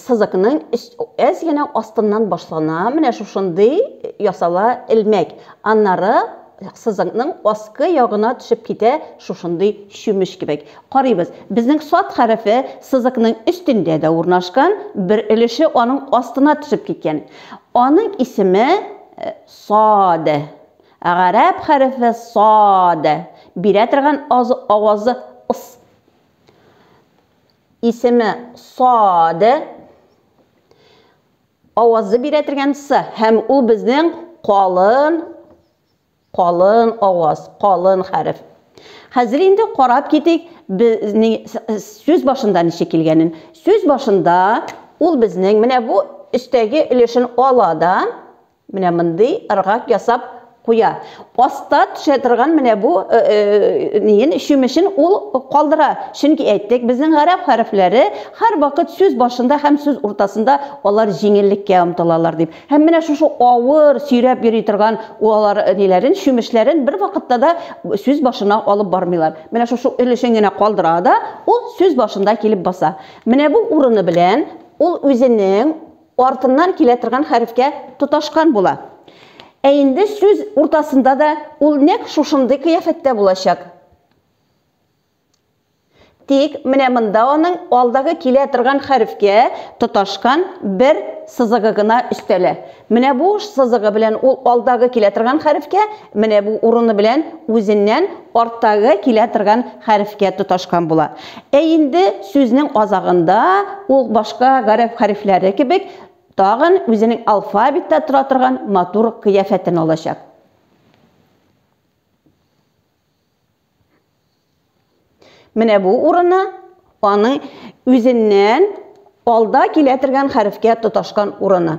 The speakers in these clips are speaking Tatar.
Сызыкның әз генә астыннан башлана, менә шушындый ясала элмәк, аннары сызыкның аскы ягына төшеп китә шушындый чүмеч кебек. Карыйбыз, безнең сад хәрефе сызыкның өстендә дә урнашкан, бер өлеше аның астына төшеп киткән. Аның исеме сад. Гарәп хәрефе сад бирә торган авазы ыс. Исеме сад. Авазы бирә торган с һәм ул безнең калын калын аваз, калын хәреф. Хәзер инде карап китик, сүз башында ничек килгәнен. Сүз башында ул безнең менә бу өстәге өлешен ала да, Менә мондый ыргак ясап куя. Аста төшә торган менә бу э, э, ниен чүмечен ул калдыра. Чөнки әйттек, безнең гарәп хәрефләре һәрвакыт сүз башында һәм сүз уртасында алар җиңеллеккә омтылалар дип. Һәм менә шушы авыр, сөйрәп йөри торган алар э, ниләрен, чүмечләрен бер вакытта да сүз башына алып бармыйлар. Менә шушы өлешен генә калдыра да, ул сүз башында килеп баса. Менә бу урыны белән ул үзенең артыннан килә торган хәрефкә тоташкан була. Ә инде сүз уртасында да ул нәкъ шушындый кыяфәттә булачак. Тик менә монда аның алдагы килә торган хәрефкә тоташкан бер сызыгы гына өстәлә. Менә бу сызыгы белән ул алдагы килә торган хәрефкә, менә бу урыны белән үзеннән арттагы килә торган хәрефкә тоташкан була. Ә инде сүзнең азагында ул башка гарәп хәрефләре кебек тагын үзенең алфавитта тора торган матур кыяфәтен алачак. Менә бу урыны аның үзеннән алда килә торган хәрефкә тоташкан урыны.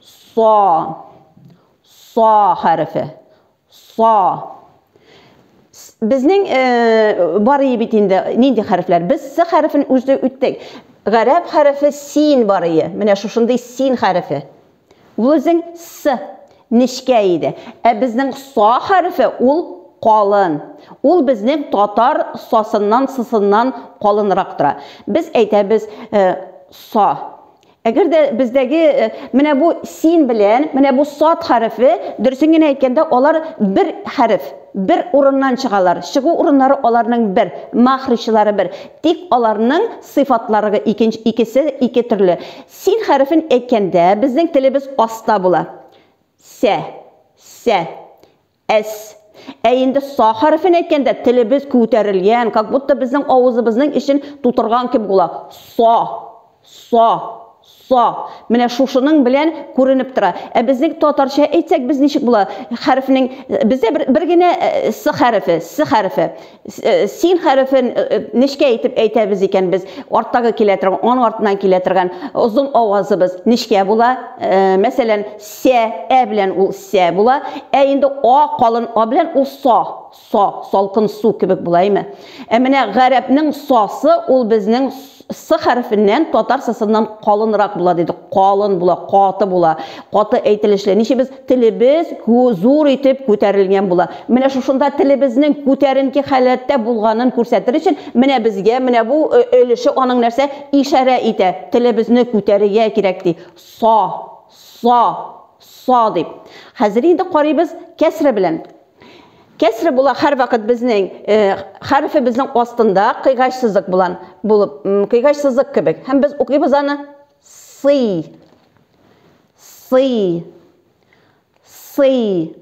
Са. Са хәрефе. Са. Безнең э, бар ие бит инде, нинди хәрефләр? Без С хәрефен үзде үттек. Гарәп хәрефе син бар ие. Менә шушындый син хәрефе. Ул үзең С нечкә иде. Ә безнең са хәрефе ул калын. Ул безнең татар сасыннан, сысыннан калынрак тора. Без әйтәбез э, са. Әгәр дә бездәге менә бу син белән менә бу сад хәрефе, дөресен генә әйткәндә, алар бер хәреф, бер урыннан чыгалар, чыгу урыннары аларның бер, мәхрҗлары бер, тик аларның сыйфатларыгы икенче, икесе ике төрле. Син хәрефен әйткәндә, безнең телебез аста була. Сә, сә. Әс. Ә инде са хәрефен әйткәндә, телебез күтәрелгән, как будто безнең авызыбызның эчен тутырган кебек була. Са. Са. Са. Менә шушының белән күренеп тора. Ә безнең татарча әйтсәк, без ничек була? Хәрефнең, бездә бер, бер генә с хәрефе, с хәрефе. син хәрефен нечкә итеп әйтәбез икән без арттагы килә торган аның артыннан килә торган озын авазыбыз нечкә була мәсәлән сә ә белән ул сә була ә инде а калын а белән ул со со салкын су кебек була әйме ә менә гарәпнең сосы ул безнең С хәрефеннән татар сысыннан калынрак була диде. Калын була, каты була, каты әйтелешле. Ничебез телебез зур итеп күтәрелгән була. Менә шушында телебезнең күтәренке халәттә булганын күрсәтер өчен, менә безгә менә бу өлеше аның нәрсә ишарә итә. Телебезне күтәрергә кирәк ди. Са, са, са дип. Хәзер инде карыйбыз кәсре белән. Кәсре була һәрвакыт безнең хәрефебезнең астында кыйгач сызык булан булып, кыйгач сызык кебек. Һәм без укыйбыз аны сый. Сый. Сый.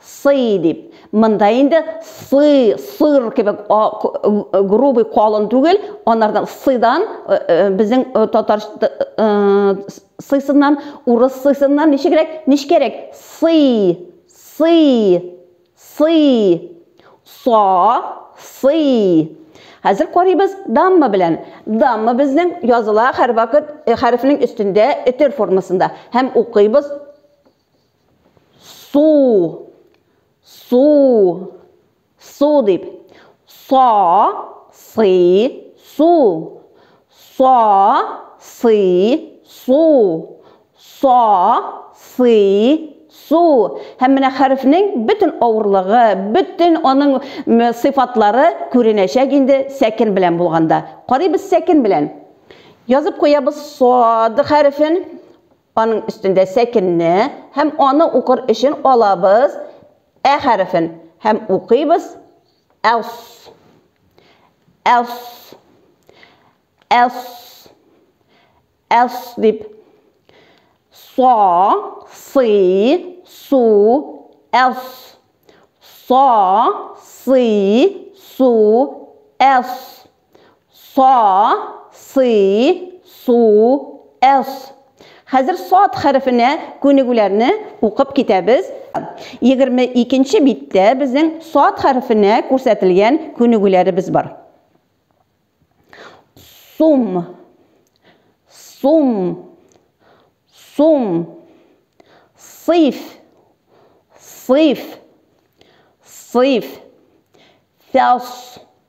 Сый дип. Монда инде сы, сыр кебек грубый калын түгел, анардан сыдан э, э, безнең э, татар Сыйсыннан, урыс сыйсыннан ничегрәк, нечкәрәк, сый, сый, сый. Са, сый. Хәзер карыйбыз дамма белән. Дамма безнең языла һәрвакыт хәрефнең өстендә өтер формасында. Һәм укыйбыз су, су, Су дип. Со, сы, су. Со, сы, су. Со, сы, су. Һәм менә хәрефнең бөтен авырлыгы, бөтен аның сыйфатлары күренәчәк инде сәкен белән булганда. Карыйбыз сәкен белән. Язып куябыз сад хәрефен. Аның өстендә сәкенне һәм аны укыр өчен алабыз ә хәрефен һәм укыйбыз әс, әс, әс, әс дип. Са, сы, су, әс. Са, сы, су, әс. Са, сы, су, эс. Хәзер сад хәрефенә күнегүләрне укып китәбез. 22 нче биттә безнең сад хәрефенә күрсәтелгән күнегүләребез бар. Сум, сум, сум, сыйф, сыйф, сыйф, фәс,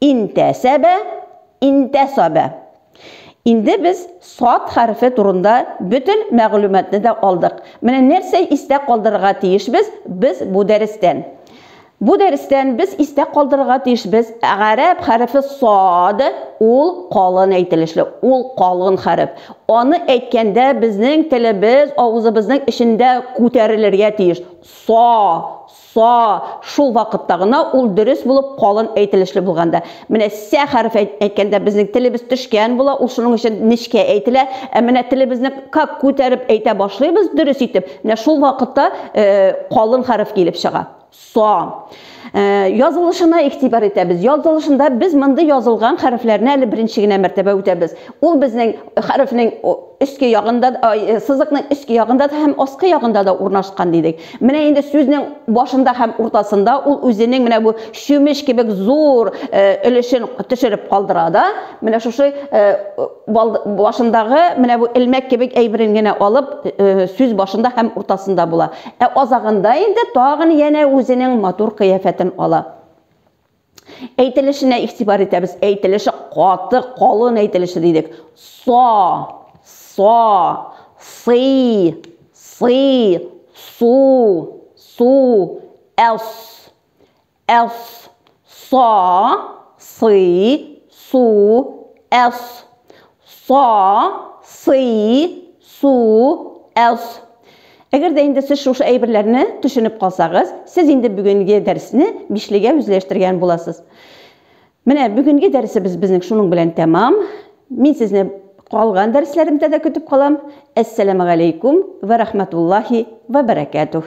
Интәсәбә, интәсабә. Инде без сад хәрефе турында бөтен мәгълүматны да алдык. Менә нәрсә истә калдырырга тиешбез без бу дәрестән? Бу дәрестән без истә калдырырга тиешбез, гарәп хәрефе сад, ул калын әйтелешле, ул калын хәреф. Аны әйткәндә безнең телебез авызыбызның эчендә күтәрелергә тиеш. Са, Са, шул вакытта гына ул дөрес булып, калын әйтелешле булганда. Менә сә хәреф әйткәндә безнең телебез төшкән була, ул шуның өчен нечкә әйтелә. Ә менә телебезне как күтәреп әйтә башлыйбыз дөрес итеп, менә шул вакытта калын хәреф килеп чыга. Са. Язылышына игътибар итәбез. Язылышында без мондый язылган хәрефләрне әле беренче генә мәртәбә үтәбез. Ул безнең хәрефнең өске ягында сызыкның өске ягында да һәм аскы ягында да урнашкан дидек. Менә инде сүзнең башында һәм уртасында ул үзенең менә бу чүмеч кебек зур өлешен төшереп калдыра да, менә шушы башындагы менә бу элмәк кебек әйберен генә алып сүз башында һәм уртасында була. Ә азагында инде тагын янә үзенең матур кыяфәтен ала. Әйтелешенә игътибар итәбез. Әйтелеше каты, калын әйтелеше дидек. Со, со, сый, сый, су, су, эс, эс, со, сый, су, эс. Са, сы, су, әс. Әгәр дә инде сез шушы әйберләрне төшенеп калсагыз, сез инде бүгенге дәресне бишлегә үзләштергән буласыз. Менә бүгенге дәресебез безнең шуның белән тәмам. Мин сезне калган дәресләремдә дә көтеп калам. Әссәламәгаләйкүм вә рахмәтуллаһи вә бәрәкәтүһ.